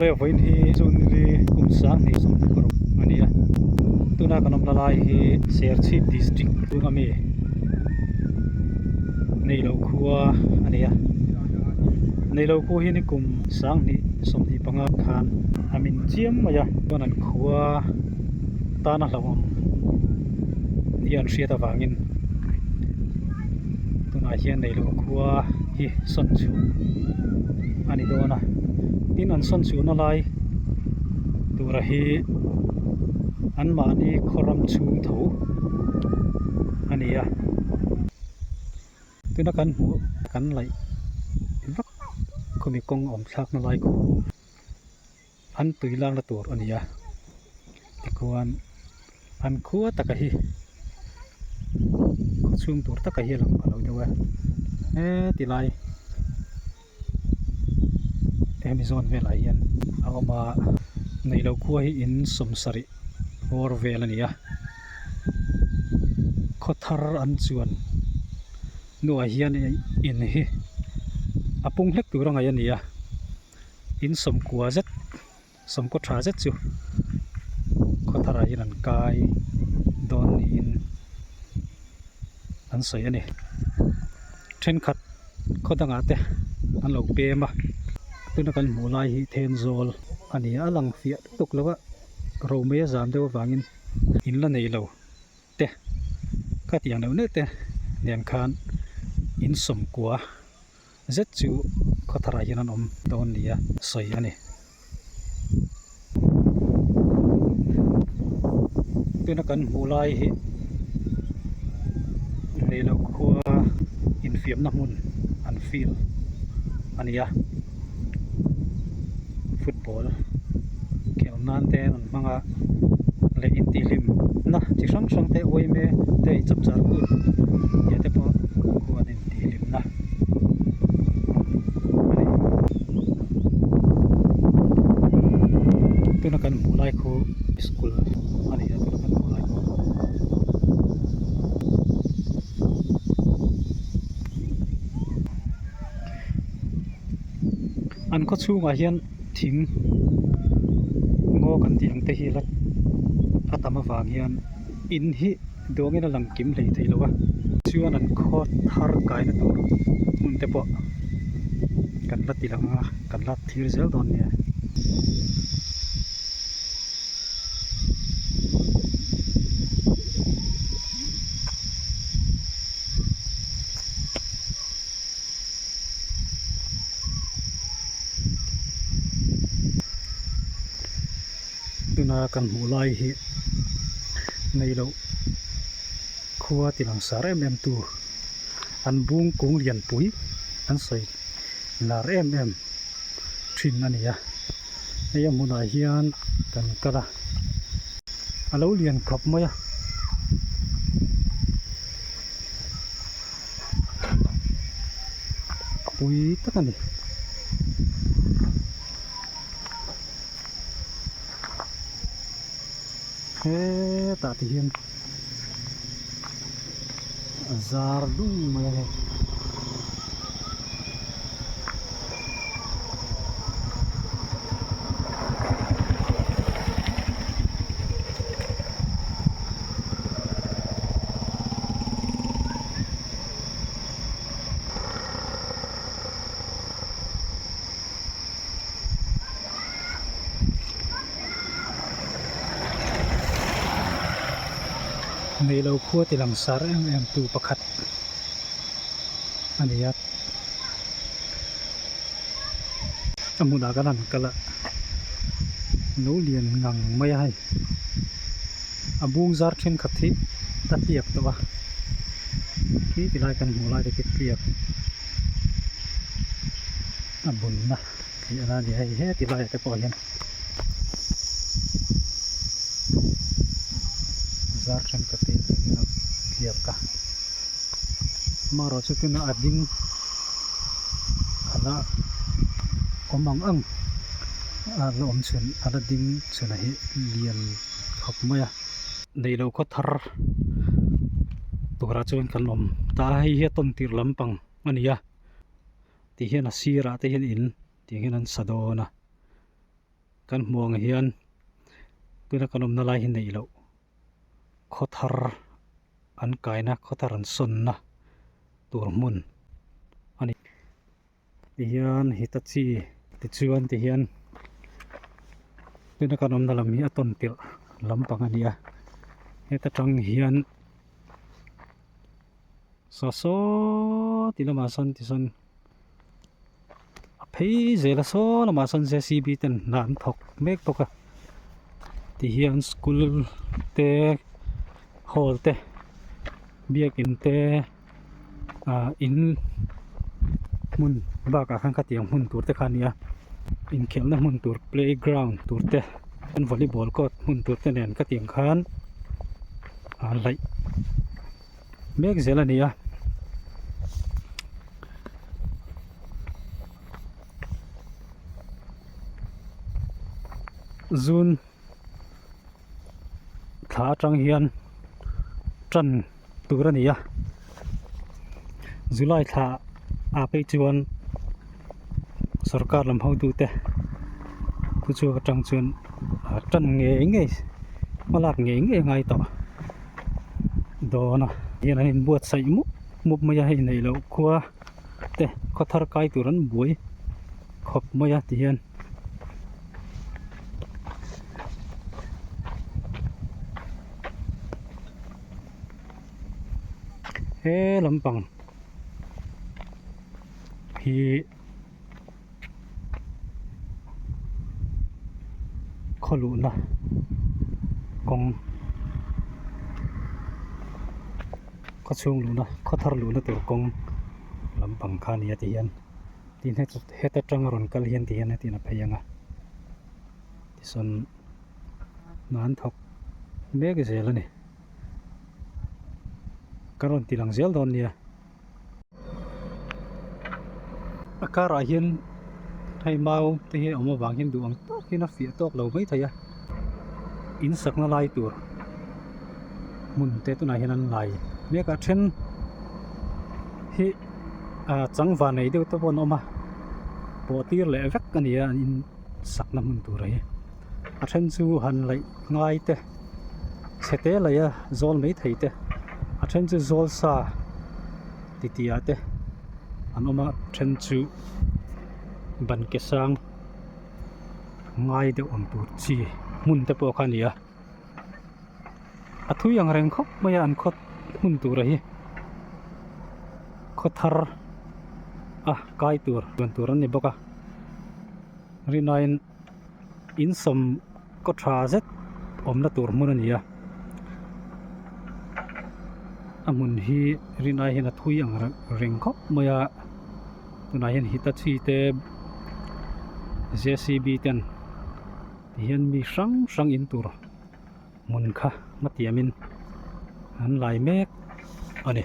Hemi vawiin hi chu nili kum sang hnih sum tak a rawn awm a ni a, tuna kan awmna lai hi Serchhip District chu a mi Neilo khua a ni a, Neilo khu hi nikum sang hnih sum hnih panga khan a min chiam mai a, chuan an khua tana hlauhawm ni an hriat avangin. tunah hian neilo khua hi sawn chhu a ni dawn a tin an sawn chhuhna lai tura hi an mahni khawram chhung tho a ni a tuna kan hmuh kan laih vak khawmi kawng awm thlakna lai kawng. An tui lak na tur a ni a, tikhuan an khua taka hi khaw chhung tur taka hi a lang a lo deuh a, hetilai Amazon velah hian a awm a, nei lo khua hi in sawm sarih hawr vel a ni a, khaw thar an chuan hnuah hian in hi a pung hlek tur a ngaih a ni a. in sawmkua zet sawmkaw tha zet chu khawthar ah hian an kai dawn niin an sawi a ni thenkhat khaw dang ah te an lo pem a tuna kan hmuh lai hi thenzawl a ni a a lang fiah tuk tuk lo a romaia zam deuh avangin in la nei lo te khatiang deuh nete nen khan insawmkua. zet chu khawthar ah hian an awm dawn ni a sawi a ni tuna kan hmuh lai hi leiloh khua infiamna hmun an field a ni a football khelh nan te an rawn hmang a leh intihhlimna chi hrang hrang te awm e te inchawp char kut te pawh an awm a ni. tihhlimna tuna kan hmuh lai khu school a ni a tuna kan hmuh lai khu an khaw chhungah hian thing ngaw kan tih ang te hi a la a tam avang hian in hi-- duangin a lang kim hlei theilo a chuan an khaw thar kaina tur hmun te pawh kan la ti lang a kan la thlir zel dawn nia. Tuna kan hmuh lai hi nei loh khua ti langsar em em tu an bung kung lian pui an sawi lar em em thin a ni a, hei a hmunah hian kan kal a, a lo lian khawp mai a. Pui tak a ni. hetah te hian a zar dum mai a hei neilo khuati langsar em em tu pakhat a nia a hmunah ka rawn kal a lo lian ngang mai a hei a bung zar thenkhat hi a tliak tawh a khi tilai kan hmuh lai te khi a tliak. a bun na tih a la ni hei he ti laiah te pawh hian zar thenkhat te tih in a tliap ka amarawhchu tuna a ding a la awm ang ang a la awm chhen a la ding chhen ah hi lian khawp mai a. neilo khaw thar turah chuan kan awm ta a hei hi tawn tir lampang a ni a tih hian a sirah te hian in tih hian an sa dawn a kan hmuh ang hian tuna kan awmna lai hi neilo khaw thar an kaina khaw thar an sawn na tur hmun a ni. Tihian Hitachi tichuan tihian tuna kan awmna lam hi a tawn tirh lampang a ni a heta tang hian Sasaww tih lamah sawn tisawn a phei zela saw lamah sawn J_C_B ten hnah an thawk mek bawk a tihian school te hall te biakin te. ah in hmun bakah khan khatiang hmun tur te kha a ni a inkhelhna hmun tur playground tur te chuan volleyball court hmun tur te nen ka tiang khan ah laih mek zel a ni a. tur a ni a july thla ah phei chuan sawrkar lam ho tu te thu chhuak atang chuan a tan ngei ngei hma lak ngei ngei ngai tawh dawn a hei an in buatsaih mup mup mai a hei neih loh khua te khaw thar kai tur an buai khawp mai a ti hian he lampang hi khaw luhna kawng khaw chhung luhna khaw thar luhna tur kawng lampang kha a ni a tih hian tin heta tang a rawn kal hian tih hian a tihna phei ang a tichuan-- nan thawk mek zel a ni ka rawn ti lang zel dawn nia a karah hian hei mau te hi awm avang hian duh ang takin a fiah tawk lo mai thei a in sakna lai tur hmun te tunah hian an lai mek a a then hi ah changva nei deuh te pawh an awm a pawh tir leh vek a ni a an in sakna hmun tur hi. a then chu han laih ngai te chhete laia zawl mai thei te a then chu zawl sa ti ti ah te an awm a then chu ban ke sang ngai deuh ang tur chi hmun te pawh kha a ni a a thui ang reng khawp mai a an khaw hmun tur a hi khaw thar a kai tur lian tur an ni bawk a rinawin-- insawm kaw tha zet awmna tur hmun a ni a a hmun hi rihnai hian a thui ang reng khawp mai a tunah hian hitachi te ten tihian mi hrang hrang in tur hmun kha hmatiam in an lai mek a ni.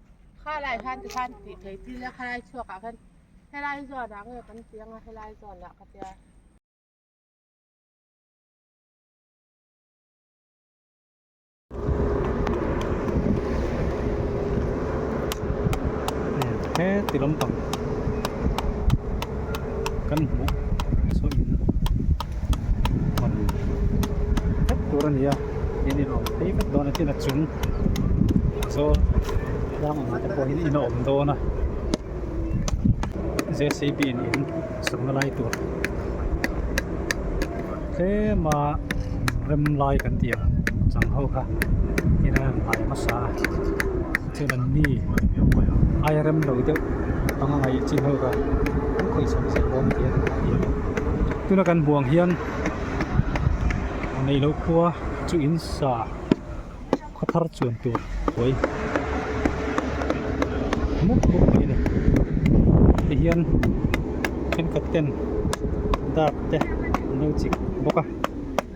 Khalai hlan te khan tih theiti ila khalai chhuak ah khan helai zawn ah nge kan ti anga helai zawn ah ka tia. He ti lampang. kan hmuh sawi in hman vek tur a ni a i ni lawm phei vek dawn a tin a chung saw tlâng anga te pawhin in a awm dawn a jcb in in sawm na lai tur tlema rem lai kan ti ang chang ho kha i ral hnai hmasa a. Chen an ni airem lo deuh panga ngaih chin ho ka kan khawih chhawm zet bawk ania duh hah hian tuna kan buang hian a nei lo khua chu in sa khaw thar chuan tur hawi mut mut mai a ni heti hian thenkhat ten dap te an lo chik bawk a.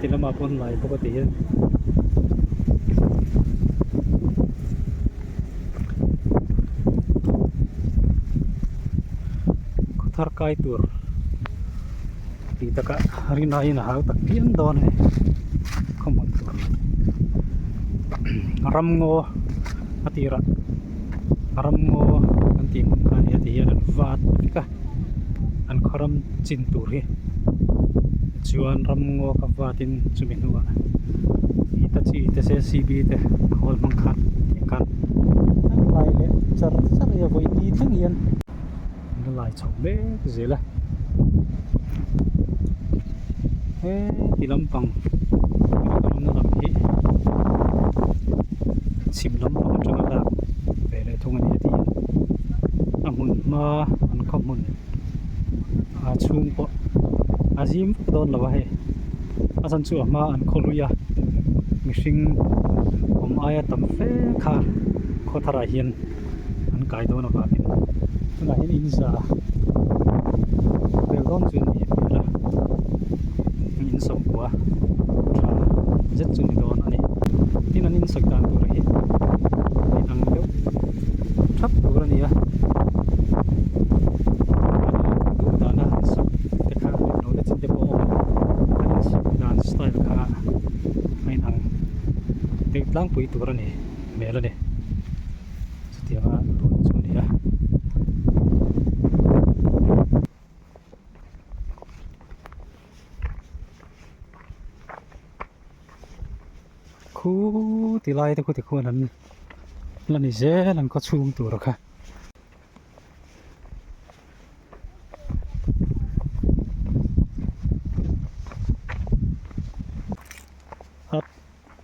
ti lamah pawh an lai bawk a ti hian khuthar kai tur ti taka rina in a hau tak piang dawn e khawmawlh tur ramngaw a tirah ramngaw kan tih hmun kha nia ti hian an vat vek a an khaw ram chin tur hi chuan ram ngaw ka vat in chumi hnua hitachi te jcb te a hawl hmang khan an kal lai leh char char hi a vawi ti thleng hian an la lai chho hle zel a he ti lampang ram na lam hi chhim lampang atanga lak ve a. leh thung ani tih a hmun hma an khawmun a chhung pawh a zim vek dawn lo a hei a chhan chu a hma an khaw hlui a mihring awm aia tam fe kha khawthar ah hian an kai dawn avang in tunah hian inzah vel dawn chu a ni hmel a. min sawm bua tha zet chu ni dawn a ni tin an insak dan tur hi inang deuh thap tur a ni a duh dana an sak te kha no te chin te pawh a awm a an insak dan style kha a inang deuh tlangpui tur a nih hmel a ni chutianga dawn chu a ni a khu ti lai te khu ti khuan an la ni zel an ka chhum tur kha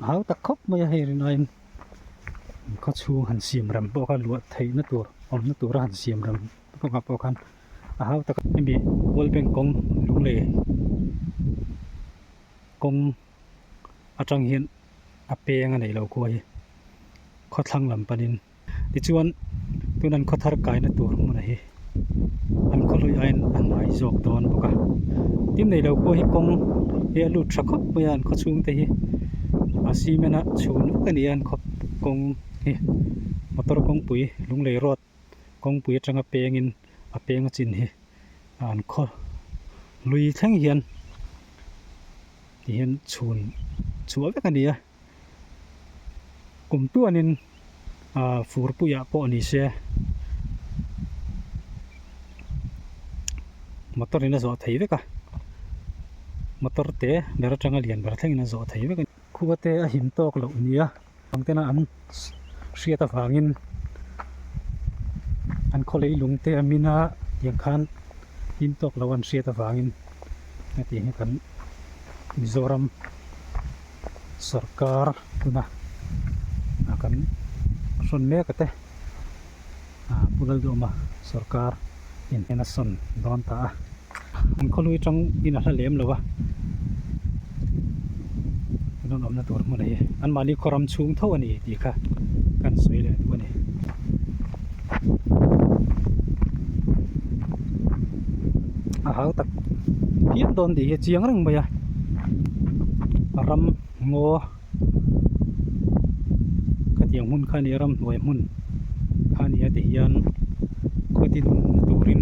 hau tak khop mai a hei rin ain kha chhung han siam ram pawh kha luah theihna tur awmna tura han siam ram pawh kha pawh khan a hau taka hemi world bank kawng lunglei kawng atang hian a peng a nei lo khua hi khawthlang lam panin tichuan tun an khawthar kaina tur hmun hi an khawhlui aiin a hnuai zawk dawn bawk a tin nei lo khua hi kawng hi a lut tha khawp mai a an khaw chhung te hi a cement a chhun vek a ni a an khaw kawng hi motor kawngpui lunglei road kawngpui atanga pengin a penga chin hi a an khaw lui thleng hian tihian chhun chhuah vek a ni a kum tuanin a fur puiah pawh ni se motor in a zawh thei vek a motor te ber atanga lian ber thlengin a zawh thei vek a ni khuate a him tawk loh nia. Bangtena an hriat avangin an khawlei lungte a min a, tiang khan hlim tawk lo an hriat avangin heti hi kan Mizoram sawrkar tuna kan hrawn mek ate Pu Lal Duhma sawrkar in a sawn dawn ta a. an khawlui tang in a hla lem lo a an rawn awmna tur hmun hi an mahni khaw ram chhung tho a ni tih kha kan sawi leh duh a ni a hau tak fiam dawn tih hi a chiang reng mai a ram ngaw khatiang hmun kha nia ramhnuai hmun kha nia tihian khaw din turin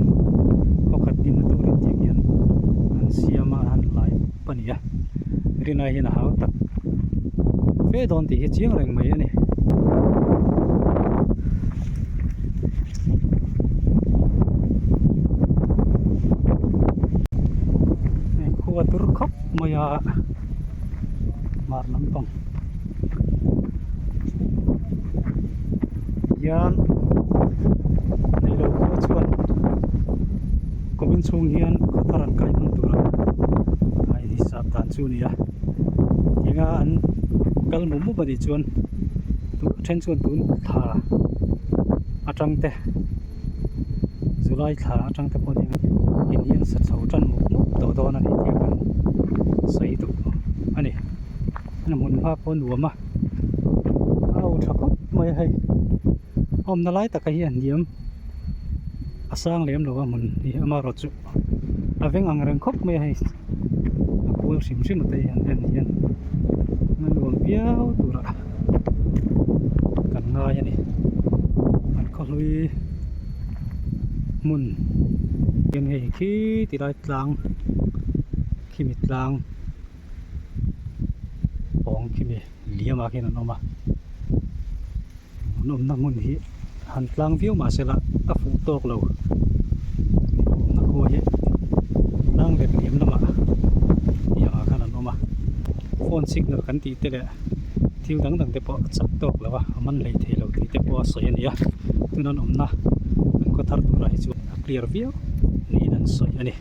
khaw khat din na turin tih hian an siam a an la laipup a ni a riahnai hian a hau tak fe dawn tih hi chiang reng mai a ni. nghar lampang hian neilo pawh chuan kawp inchhung hian cutter an kai hman tur ang a in hisap dan chu a ni a tinga an kal mup mup a nih chuan a then chuan tun thla a tang te. july thla atang te pawh hian in hi an sa chho tan muk muk tawh dawn a ni tih a kan sawi duh a ni an rawn hmun hma pawh a nuam a a lo tha khawp mai a hei a awmna lai takah hian hniam a sang lem lo a hmun hi a marawt chu. a veng ang reng khawp mai a hei a kual hrim hrim ata hi han en hian a nuam viau tur a kan ngai a ni an khawhlui hmun khian hei khi tilai tlang khi mi tlang-- pawng khi mi liam ah khian an awm a an awmna hmun hi han tlang viau mah se lah a fuh tawk lo an awmna khaw hi tlang let liam lam ah eniang ah khan an awm a phone signal kan tih te leh thil dang dang te pawh chak tawk lo a a man hlei thei lo tih te pawh a sawi a ni a tun an awmna an khaw thar tur ah hi chuan a clear viau niin an sawi a ni.